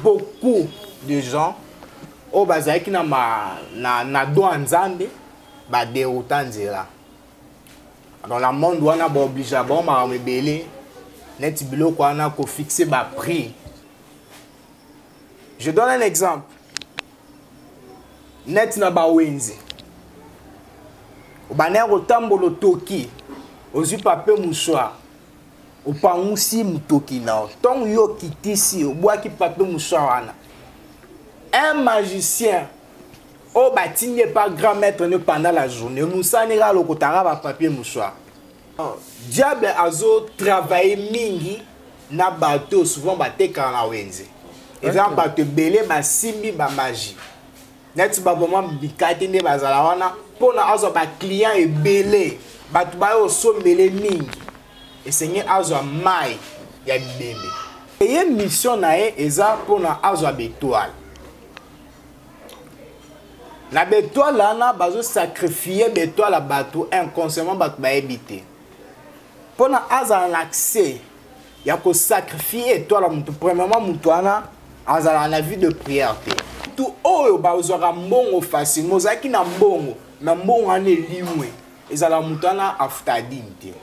beaucoup de gens oyo bazalaki na, ma, na, na do ya nzambe baderouta nzela dans la monde wana baobligea bango makambo ebele neti biloko wana kofixe baprix je donne un exemple neti na bawenze obandaki kotambola otoki ozwi pape mouchoir opangusi motoki na yo ntongo yo okitisi obwaki pape moswa wana un magicien oyo batindi epa grand maître ne pendant la journée mosani kaka lokotaka bapapier moswa ah, diable azotravaille mingi na bato souvent batekaka na wenze eza bato ebele basimbi bamagie neti baboma bikati nde bazala wana mpona azwa baclient ebele bato baye osombele mingi esengi azwa mai ya bibembe eye mission na ye eza mpona azwa betoile na betoile wana bazosakrifie betoile ya bato inconsciemment bato bayebi te pona azala na accès ya ko sacrifier étoile ya moto premièrement moto wana azala na vie de prière te moto oyo bazwaka mbongo facilement ozalaki na mbongo na mbongo wana elimwe ezala moto wana afutaka dini te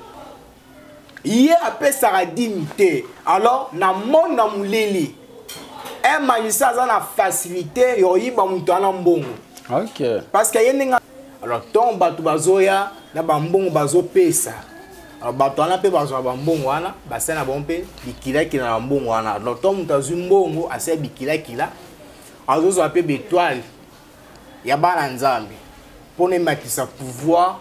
ye apesaka dini te alors na mone na molili emanisa aza na facilité ya koyiba moto wana mbongo okay. parce que ye ndenge alors ntongo bato bazoya na bambongo bazopesa alors bato wana mpe bazwa bambongo wana basali na bango mpe bikilakila na bambongo wana alors ntango moto azwi mbongo asali bikilakila azozwa mpe betoile ya bana nzambe mpo na ematisa pouvoir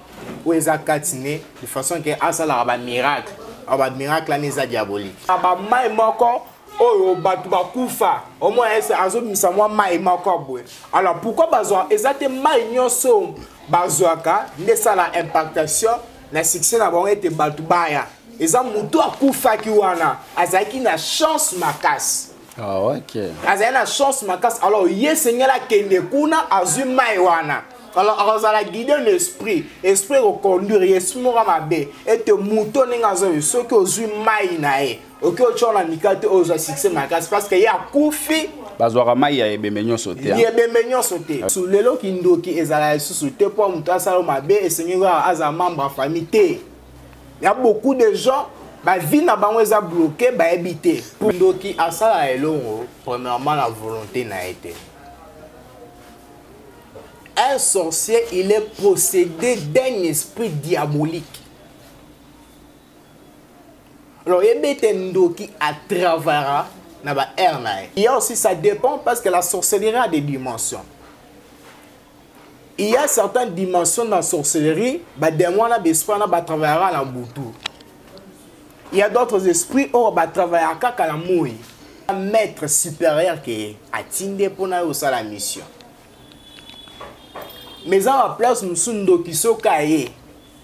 oyo eza kati ne de façon ke asalaka bamiracle alors bamiracle wana eza diabolique bamai moko oyo bato bakufa omona ese azobimisa mwa mai moko boye alors pourkui bazwa eza te mai nyonso bazwaka nde esala impactation na succès na bango ete bato baya eza motu akufaki wana azalaki na chance makasi ah, okay. azali na chance makasi alors ye esengeli akende kuna azwi mai wana alors akozala guide na esprit esprit ekoconduire ye esprit moko mabe ete moto ndenge azoyi soki ozwi mai na ye oki otyo na mika te oyo ozwa succès makasi parce que ye akufi bazwaka mai ya ebembe nyonso te ya ebembe nyonso te so lelo kindoki ezala lisusu te mpo moto asala mabe esengeli kaka azala membre ya famille te ya beaucoup de gens bavi na bango eza bloke bayebi te ndoki asala elongo premièrement na volonté na ye te un sorcier il est procédé d'un esprit diabolique alors yebi ete ndoki atravara na ba aire na ye il y a aussi ça dépend parce que la sorcellerie a des dimensions il y a certaines dimensions dans la sorcellerie bademo wana baesprit wana batravayaka na butu il y a d'autres esprits oyo batravayaka kaka na moi maître supérieur ke atinde mpo na yo osala mission mais eza baplace mosusu ndoki soki aye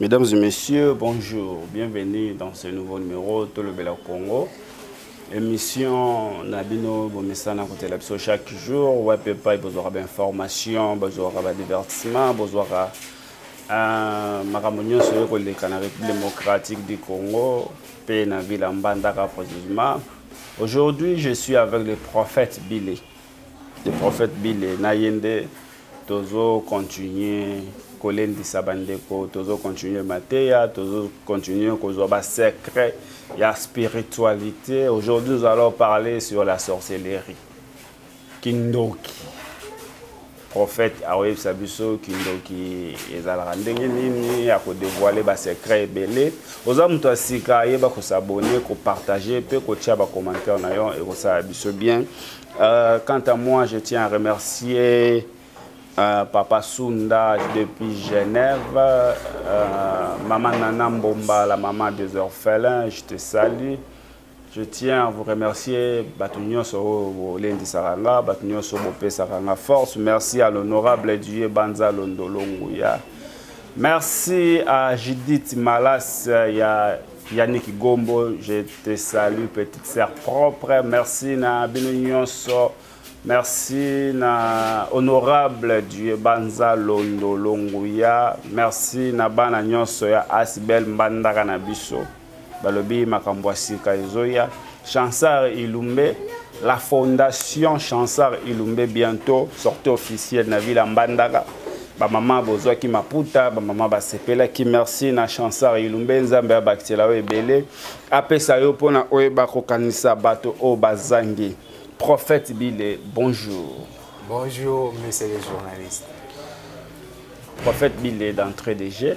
Mesdames et messieurs, bonjour. Bienvenue dans ce nouveau numéro Tout le Bel Congo. Émission Nabino Bomesana côté la chaque jour. Ouais, papa, vous aurez d'informations, vous aurez divertissement, vous aurez euh, makambo nyonso oyo koleka na république démocratique du congo mpe na ville ya mbandaka précisément aujourd'hui je suis avec le prophète billy le prophète bile na ye nde tozocontinue kolendisa bandeko tozocontinue mateya tozocontinue kozwa basecret ya spiritualité aujourd'hui nous allons parler sur la sorcellerie kindoki prophète akoyebisa biso kindoki ezalaka ndenge nini ya kodevoile basecret ebele oza moto ya sika ayeba kosabone kopartage mpe kotia bacommentaire na yo ekosala biso bien euh, quant à moi je tiens à remercier Euh, papa Sunda depuis Genève, euh, maman Nana Mbomba, la maman des orphelins, je te salue. Je tiens à vous remercier, Batunyoso Lendisaka nga, Batunyoso Bopesaka nga force. Merci à l'honorable Dieu Banza Londolo Nguya. Merci à Judith Malas euh, ya Yannick Gombo, je te salue petite sœur propre. Merci na bino nyonso. Merci na honorable Dieu Banza Londolo Nguya. Merci na bana nyonso ya Asibel Mbandaka na biso. balobi makambo ya sika ezoya chansar ilumbe la fondation chansar ilumbe bientôt sortie officielle na ville ya mbandaka bamama bozwaki maputa bamama basepelaki merci na chansar ilumbe nzambe abakisela yo ebele apesa yo mpo na oyeba kokanisa bato oyo bazangi prophète bile bonjour bonjour monsieur le journaliste prophète bile d'entrée de jeu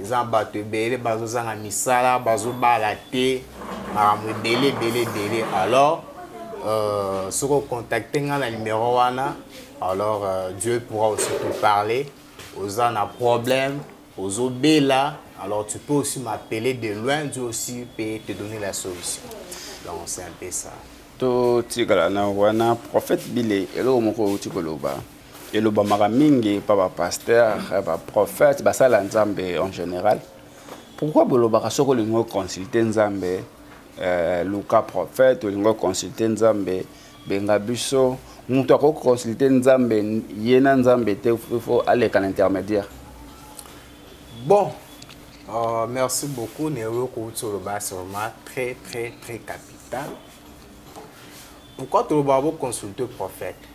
eza bato ebele bazozanga misala bazobala te makambo ebele ebele ebele alors euh, soki ocontacte ngai na numero wana alors euh, dieu pourra aussi te parler oza na problème ozobela alors tu peux aussi m'appeler de loin dieu aussi peut te donner la solution donc c'est un peu ça totikala na wana prophète bile eloko moko outi koloba elobamaka mingi pa bapasteur baprophète basala nzambe en général pourquoi bolobaka soki olingi oconsulte nzambe euh, luka prophète olingi oconsulte nzambe benga biso moto akoki koconsulte nzambe ye na nzambe te fo aleka na intermédiaire bon uh, merci beaucoup neoyo kouti oloba vraiment très très très capital pourquoi tolobaka boconsulte prophète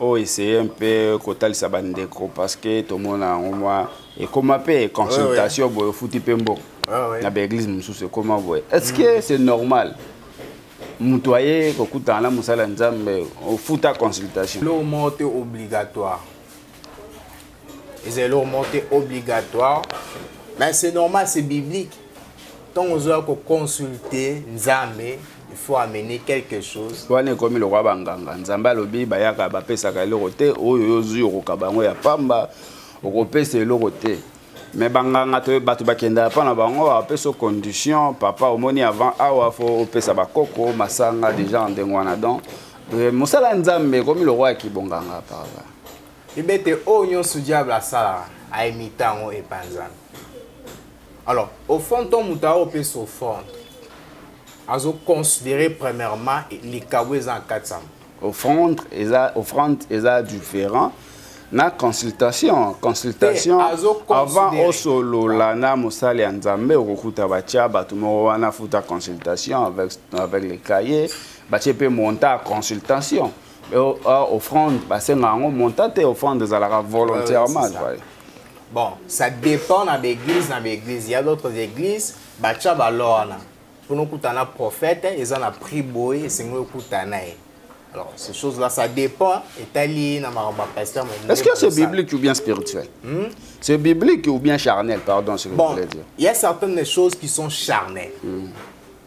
o essaye mpe kotalisa bandeko parce que tomona yango mwa ekoma mpe consultation boye ofuti mpe mbongo ah na baeglise mosusu ekoma boye est ce que mm. c'est normal moto aye kokutana na mosala ya nzambe ofuta consultation eloko moko te obligatoire eza eloko moko te obligatoire mais c'est normal c'est biblique ntango ozoya koconsulte nzambe il faut amener quelque chose wana ekomi lokola banganga nzambe alobi bayaka bapesaka eloko te oyo yo ozwi okoka bango ya pamba okopesa eloko te me banganga to bato bakendaka mpo na bango apesa condition papa omoni avant awa fo opesa bakoko masanga déjà ndenge wana donc euh, mosala ya nzambe ekomi lokola ya kibonganga papa Bibete oyo nyonso diable asalaka aimita yango epa nzambe alors au fond nto moto aopesa ofrande azoconsidere premièrement likabo eza na kati ya offrande eza offrande eza différent na consultation consultation avant osolola na mosali ya nzambe okokuta batya bato moko wana futa consultation avec, avec le cahier batye mpe monta ya consultation Ah, offrande basenga yango monta te offrande ezalaka volontairement ouais, bon ça dépend na baeglise na baeglise ya d'autres églises batya balo wana mpona okutana prophète eza na prix boye esengeli okutana ye alors ces choses là ça dépend etali na makambo ya pasteur est ce que c'est biblique ou bien spirituel hmm? c'est biblique ou bien charnel pardon si vous bon, voulez dire il y a certaines choses qui sont charnelles hmm.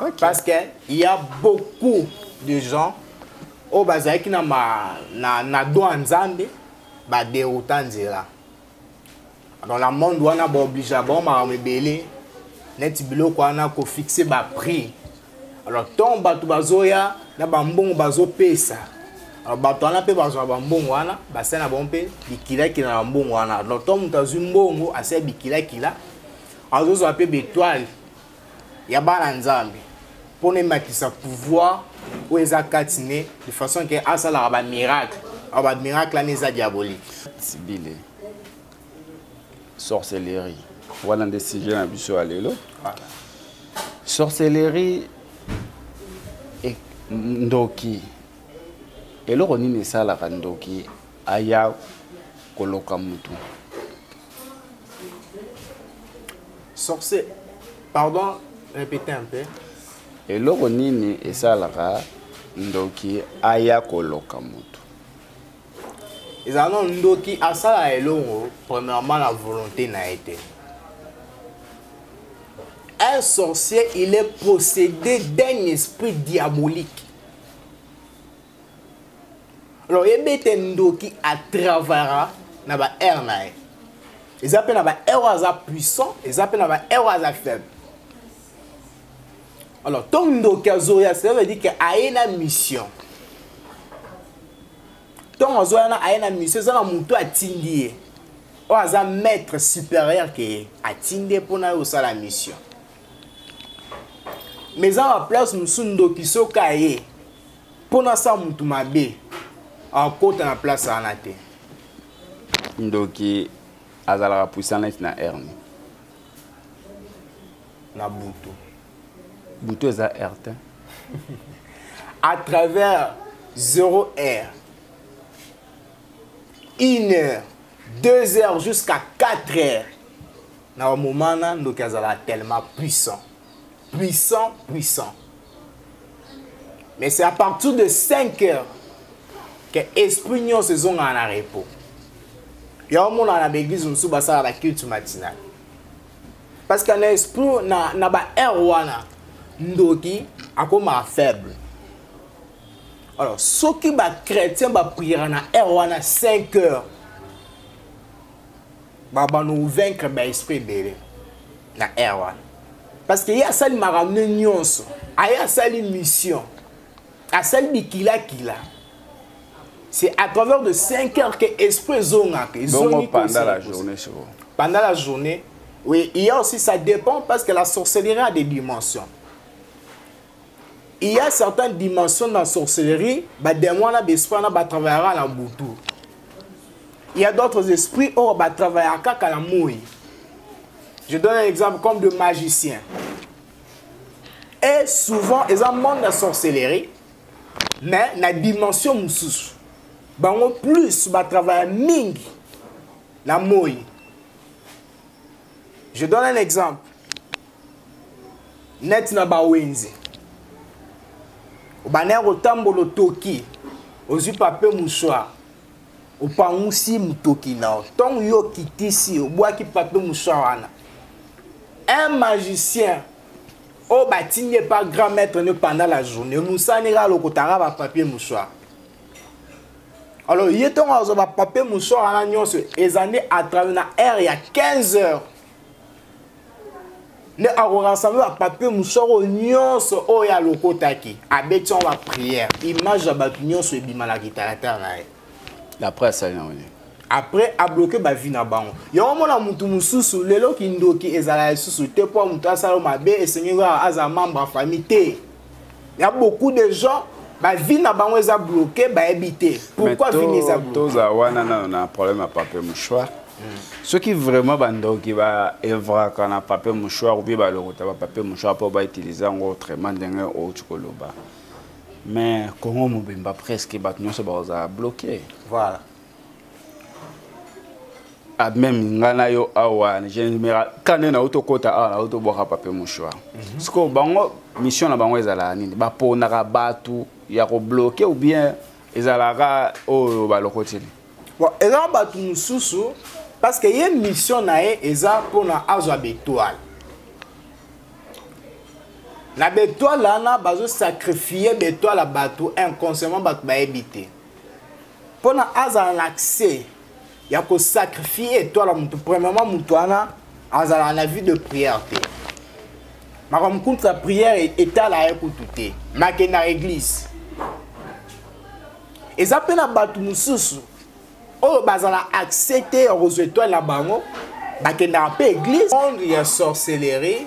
okay. parce que il y a beaucoup de gens oyo bazalaki na, ma, na, na do ya nzambe baderouta nzela dans la monde wana baoblige bango makambo ebele neti biloko wana kofixe baprix alors ntongo bato bazoya na bambongo bazopesa alors bato wana mpe bazwa bambongo wana basala na bango mpe bikilakila na bambongo wana alors ntongo moto azwi mbongo asala bikilakila azozwa mpe betoile ya bana nzambe mpo na ematisa pouvoir oyo eza kati ne de façon ke asalaka bamiracle awa bamiracle wana eza diabolique sibile sorcellerie wana nde sujet na biso ya lelo sorcellerie e, ndoki eloko nini esalaka ndoki aya koloka motu sorcier pardon répéter un peu eloko nini esalaka ndoki aya koloka moto ezala nano ndoki asala elongo premièrement na volonté na ye te un sorcier il est possédé d'un esprit diabolique alors yebi ete ndoki atravara na ba aire na ye eza mpe na ba aire oyo aza puissant eza mpe na ba aire oyo aza faible alors to ndoki azoya cela veut dire ke aye na mission ntongo azoya na aye na mission eza na motu atindi ye oyo aza maître supérieur ke ye atindi ye mpo na ye osala mission mais eza na baplace mosusu ndoki soki aye mpo nasala motu mabe akota na place wana te ndoki azalaka puissant neti na erne na butu butu eza r te à travers 0 heure 1 heure 2 heures jusqu'à 4 heures na bamomana ndoki azalaka tellement puissant puissant puissant mais c'est à partir de 5 heures que esprit nyonso ezongaka na repos ya omonaka na baeglise mosusu basala baculte matinale parce que na esprit na, na baheure wana ndoki akomaka faible alors soki bachrétien bapriere na heure wana 5 heures babano vaincre ba esprit ebele na air wana parce que ye asali makambo ne nyonso aye asali mission asali bikilakila c'est à travers de 5 heures que esprit ezongaka ezongi pendant la journée pendant la journée oui il y a aussi ça dépend parce que la sorcellerie a des dimensions il y a certaines dimensions dans sorcellerie ba démon wana ba esprit wana ba travaillera na butu il y a d'autres esprits oyo ba travaillera kaka na moi je donne un exemple comme de magicien et souvent eza monde ya sorcellerie mais na dimension mosusu bango plus ba travailla mingi na moi je donne un exemple net na bawenze obanda ya kotambola otoki ozwi pape mouchoir opangusi motoki na yo ntongo yo okitisi obwaki pape mouchoir wana un magicien oyo oh, batindi epa grand maître ne pendant la journée mosani kaka lokotaka bapapier mouchoir alors ye ntongo azwa bapapier mouchoir wana nyonso eza nde atravers na heure ya 15 heures nde akorassembler bapapier mosoko nyonso oyo alokotaki abeti yango baprière image ya bato nyonso ebima na kitalatala na ye après asali yango nini après abloke bavi na bango yango omona motu mosusu lelo kindoki ezala lisusu te mpo motu asala mabe esengeli kaka azala membre ya famille te ya beaucoup de gens bavi na bango eza bloke bayebi te pourquoi vini eza bloke toza wana nano na problème ya papier mouchoir soki vraiment bandoki baevraka na papier mouchoir obie balokota bapapier mouchoir mpo bautilize yango autrement ndenge outi koloba mais congo mobimba presque bato nyonso bakozala bloke voilà ah, meme nga na yo awa kane na auto kota awa na auto bwaka pape mouchoir mhm. sikoyo bango mission na bango ezalaka nini baponaka bato ya kobloke ou bien ezalaka oyo balokoteli ezalaka bato mosusu parce que ye mission na ye eza mpona azwa betoile na betoile wana bazosakrifie betoile ya bato inconsciemment bato bayebi te pona azala na accès ya ko sacrifier étoile ya moto premièrement moto wana azala na vie de prière te makambo kutu ya prière e-, etala ye kutu te make na église eza mpe na bato mosusu oyo bazala accès te ya kozwa étoile na bango bakendaka mpe église monde ya sorcellerie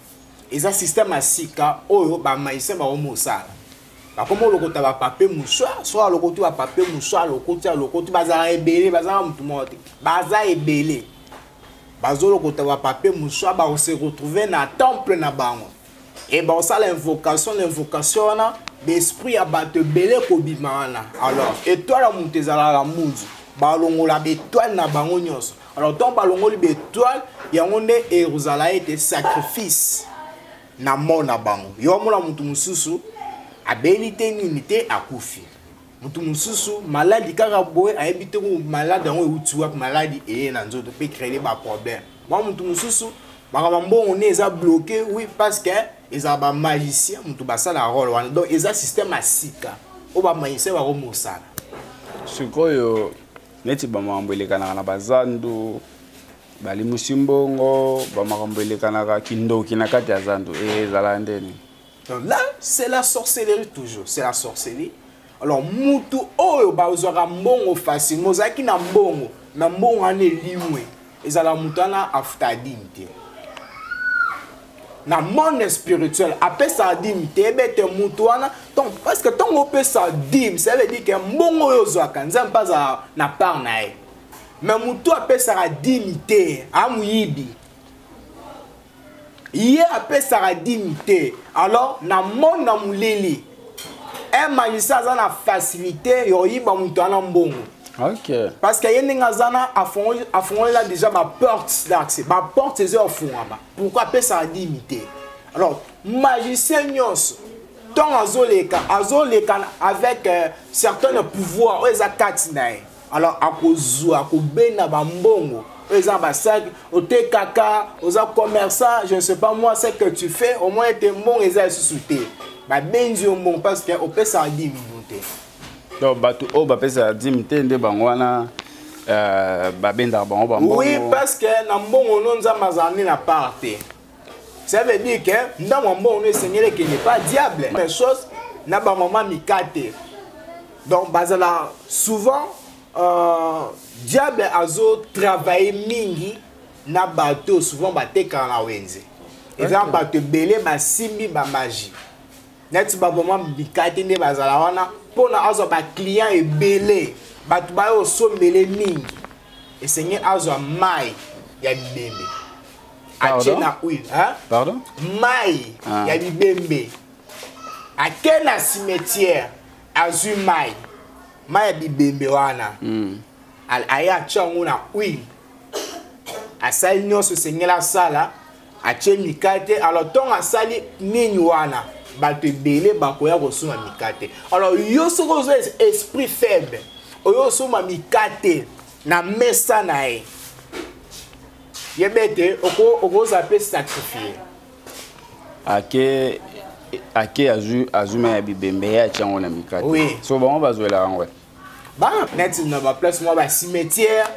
eza système ya sika oyo bamaisien bakomi osala bakomi olokota bapape mosu soki alokoti bapape mosu alokoti alokoti bazalaka ebele bazalaka motu moko te baza ebele bazolokota bapape mosu bakose retrouve na temple na bango e bakosala invocation na invocation wana baesprit ya bato ebele kobima wana alors etoile ya moto ezalaka munzu balongola baetoile na bango nyonso alors ntango balongoli baetoile yango nde ekozala ete sacrifice na mort na bango yo amona moto mosusu abeli te nini te akufi moto mosusu maladi kaka boye ayebi te maladi yango euti wapi maladi eye na nzoto mpe créele baproblème mwa moto mosusu makambo mbongo nde eza bloqué oui parce que ezala bamagicien moto basala role wana donc eza système ya sika oyo bamagicien bakomosala sikoyo neti bamakambo elekanaka na bazando balimusi mbongo bamakambo elekanaka kindoki na kati ya zando eh, ezalaka ndeni là c'est la sorcellerie toujours c'est la sorcellerie alors mutu oyo bazwaka mbongo facilement ozalaki na mbongo na mbongo wana elimwe ezala moto wana afuta adimi te na monde spirituel apesa adimi te ebete moto wana donc parce que ntango opesa dime ça veut dire ke mbongo oyo ozwaka nzambe mpe azala na part na ye me moto apesaka dimi te amoyibi ye apesaka dimi te alors na monde na molili emanisa aza na facilité ya koyiba moto ana mbongo okay. parce que ye ndenge aza na afongolela déjà baporte daxe baporte eza ofungama pourkui apesaka dimi te alors magicien nyonso ntongo azoleka azoleka avec euh, certaine pouvoir oyo eza kati na ye alors akozwa akobenda bambongo oyo eza basaki otekaka oza commerçant je ne sais pas moi ce que tu fais au moins ete mbongo eza lisusu te babenzi yo mbongo parce que opesaka dimi bino te donc bato oyo bapesaka dimi te nde bango wana euh, babendaka bango bambongo oui parce que na mbongo no nzambe azala nde na part te ça veut dire que ndambo ya mbongo no esengeli ekende pa diable même chose na bamama mikate donc bazala souvent euh, diable azo travaille mingi na bato souvent batekaka na wenze eza okay. bato ebele basimbi bamagie neti baboma bikati nde bazala wana mpona azwa baclient ebele bato bayo osombele mingi esengeli azwa mai ya bibembe atie na huile pardon mai ah. ya bibembe ake na cimetière azwi mai mai ya bibembe wana mm. aye atye yango na huile asali nyonso esengeli asala atye mikate alors ntongo asali nini wana bato ebele bakoya kosomba mikate alors yo soki ozo esprit faible oyo osomba mikate na mesa na ye yebe te okoza mpe sacrifie ake ake azwi mai ya bibembe ye atya yango na mikate oui. so bango bazwela yango ba neti na baplace mwa bacimetière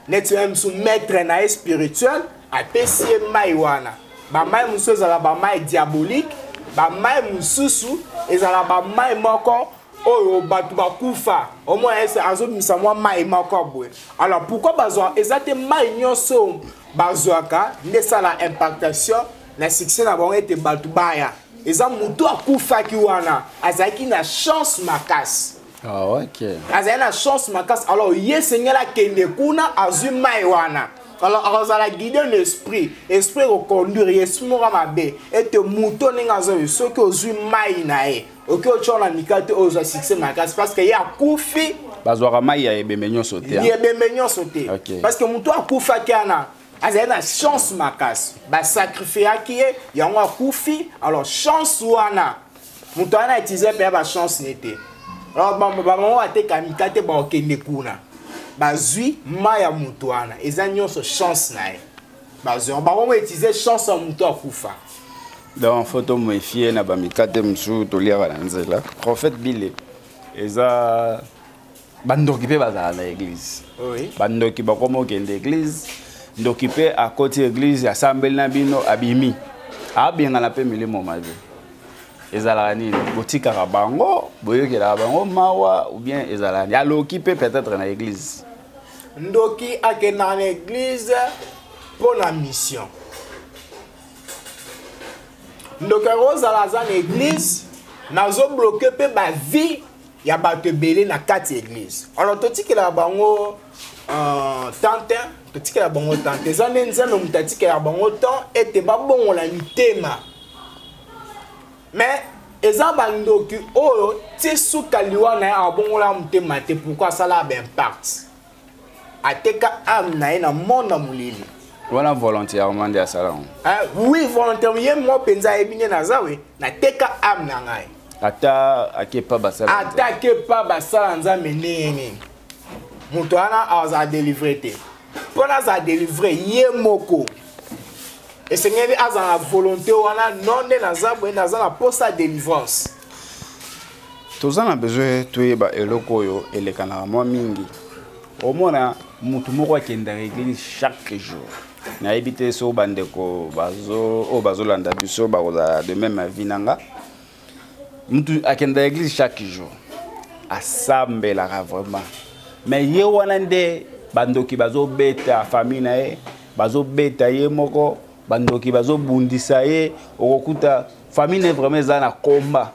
neti ya mosu maître na ye spirituel apesi ye mai wana bamai mosusu ezala bamai diabolique bamai mosusu ezala bamai moko oyo bato bakufa omona ese azobimisa mwa mai moko boye alors pourkui bazwa eza te mai nyonso bazwaka nde esala impactation na succès na bango ete bato baya eza motu akufaki wana azalaki na chance makasi ah, okay. azali na chance makasi alors ye esengeli akende kuna azwi mai wana alors akozala guide na esprit esprit ekoconduire ye esprit moko mabe ete moto ndenge azoyi soki ozwi mai na ye oki otyo na mika te oyo ozwa succès makasi parce que ye akufi bazwaka mai ya ebembe nyonso te ya ebembe nyonso te parce que motu akufaki ana azali na chance makasi basacrifiaki ye yango akufi alors chance wana moto wana atize mpe ya bachance ne te alors bamama bateka mika te bakokende kuna bazwi mai ya moto wana eza nyonso chance na ye bazor bango mo utiliser chance ya moto akufa donc fo tomefie na bamikate mosusu toliaka na nzela prophète bile eza bandoki mpe bazala na église oui. bandoki bakoma okende église ndoki mpe akoti église asambeli na bino abimi abengana mpe milimo mabe ezalaka nini botikaka bango boyokelaka bango mawa ou bien ezalaka nini aloki mpe peut-être na église ndoki akendaka na eglize mpo na mission ndoki akozala aza na eglize nazobloke mpe bavie ya bato ebele na kati ya eglize alors totikelaka bango euh, tante totikelaka bango tante eza nde nzambe moto atikelaka bango temps ete babongola mitema mais eza bandoki oyo ti suka liwa na ye abongola motema te pourkui asala baimpact ateka ame na ye na monde na molili wana volontairement nde asala yango eh, oui volontairement ye moko mpenza ayebi nde naza we nateka ame na ngai ata ake pa basala ata ake pa basala nzambe ndenge nini moto wana azala delivre te mpo nazala delivre ye moko esengeli azala na volonté wana non nde naza boye naza na mposa ya délivrance toza na besoin toyeba eloko oyo elekanaka mwa mingi omona motu moko akendaka eglise chaque jour nayebi te so bandeko oyo bazolanda biso bakozala de meme avi na nga mutu akenda église chaque jour asambelaka vraiment mais ye wana nde bandoki bazobeta famille na ye bazobeta ye moko bandoki bazobundisa ye okokuta famille na ye vraiment eza na combat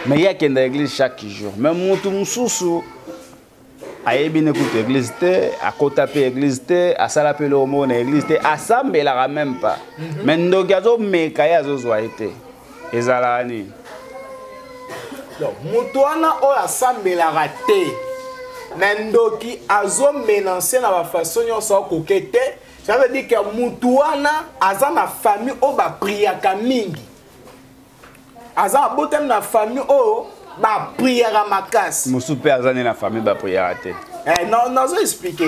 mais ye akenda église chaque jour mais mutu mosusu ayebi ne kutu église te akota mpe église te asala mpe eloko moko na église te asambelaka même pas mhm. mais ndoki azomeka ye azozwa ye te ezalaka nini moto wana oyo asambelaka te na ndoki azomenanse na bafaso nyonso akoke te ça veut dire que moto wana aza na famille oyo bapriaka mingi aza abotami na famille oyo bapriaka makasi mosusu mpe aza nde na famille bapriaka te eh, nazo explike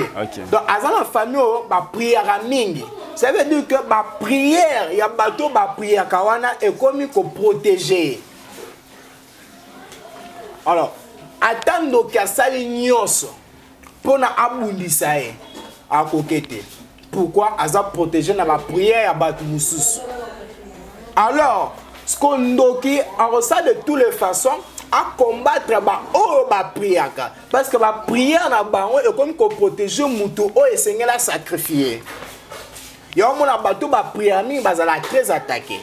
donc aza na famille oyo bapriaka mingi ça veut dire que baprière ya bato bapriaka wana ekomi koprotege alors ata ndoki asali nyonso pona abundisa ye akoke te pourquoi aza protégé na baprière ya bato mosusu alors siko ndoki akosala de tous les façons acombattre baoyo bapriaka parce que baprière na bango ekomi koprotege moto oyo esengeli asacrifie yango mona bato baprière mingi bazalaka très attaqué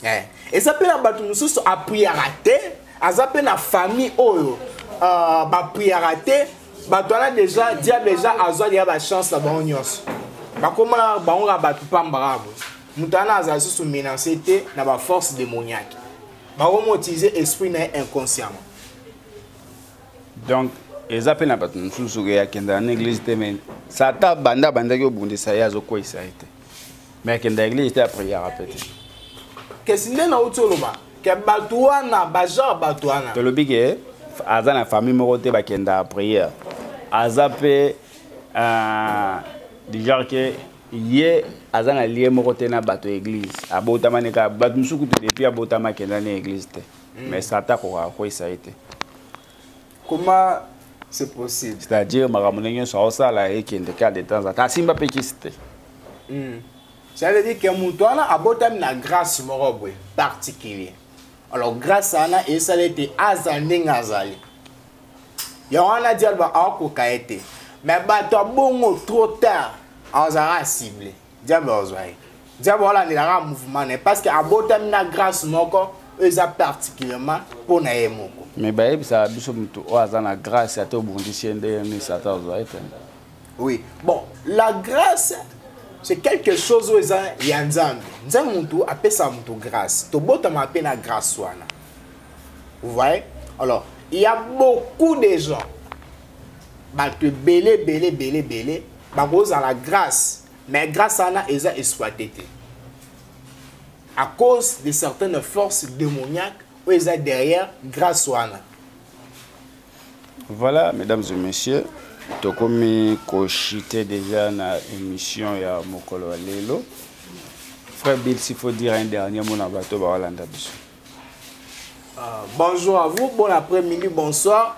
eh. eza mpe na bato mosusu apriaka te aza mpe na famille oyo uh, bapriaka te bato wana deja dia deja azwa deya bachance na bango nyonso bakomona bango kaka bato pambaka bo moto wana azala lisusu menance te na baforce démoniaque bakomotize esprit na ye inconsciemment donc eza mpe na bato mosusu soki akendaka na église te me sata banda abandaki obundisa ye azokweisa ye te mais akenda eglise te apriere mpe te kesi nde nauti oloba ke bato wana bagenre bato wana tolobi ke aza na famille moko te bakenda priere aza mpe euh, du genre ke ye aza na lie moko te na bato ya eglise abotama ne kaka bato mosusu kutu depuis abotama akenda ne eglise te hmm. mais sata akoka akweyisa ye te comment c'est possible c'est à dire makambo ndenge nyonso aosala ekende kaka de temps en temps asimba mpe kisi te hmm. ça veut dire que moto wana abotami na grâce moko boye particulier alors grâce wana esala ete aza ndenge azali yango wana dialba akoka ye te mais bato abongo trop tard azala cible diable ozwa ye diable olandelaka mouvement na ye parce que abotami na grâce moko oyo eza particulièrement mpo na ye moko me bayebisaka biso moto oyo aza na grâce ata obundisi ye ndenge nini satan ozwa ye te oui bon la grâce c'est quelque chose oyo eza ya nzambe nzambe motu apesaka motu grâce tobotamaka mpe na grâce wana vous voyez alors il y a beaucoup de gens bato ebele ebele ebele ebele bakozala grâce mais grâce wana eza exploité te à cause de certaines forces démoniaques oyo eza derrière grâce wana voilà mesdames et messieurs tokomi kochite déjà na émission ya mokolo ya lelo frère bill s'il faut dire un dernier mot na bato bakolanda biso euh, bonjour à vous bon après-midi bonsoir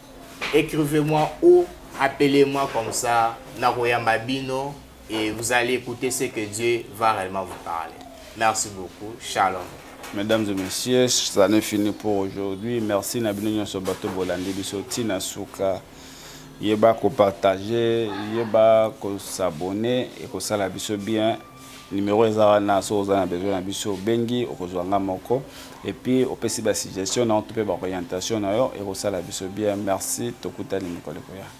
Écrivez moi ou appelez moi comme ça nakoyamba bino et vous allez écouter ce que Dieu va réellement vous parler. Merci beaucoup. Shalom. Mesdames et messieurs, ça n'est fini pour aujourd'hui. Merci na bino nyonso bato bolandi biso tina suka. Yeba ko partager, yeba ko s'abonner et ko sala biso bien. numero eza wana soki oza na besoin na biso obengi okozwa nga moko epuis opesi basuggestion na yo to mpe baorientation na yo ekosala biso bien merci tokutani mikolo ekoya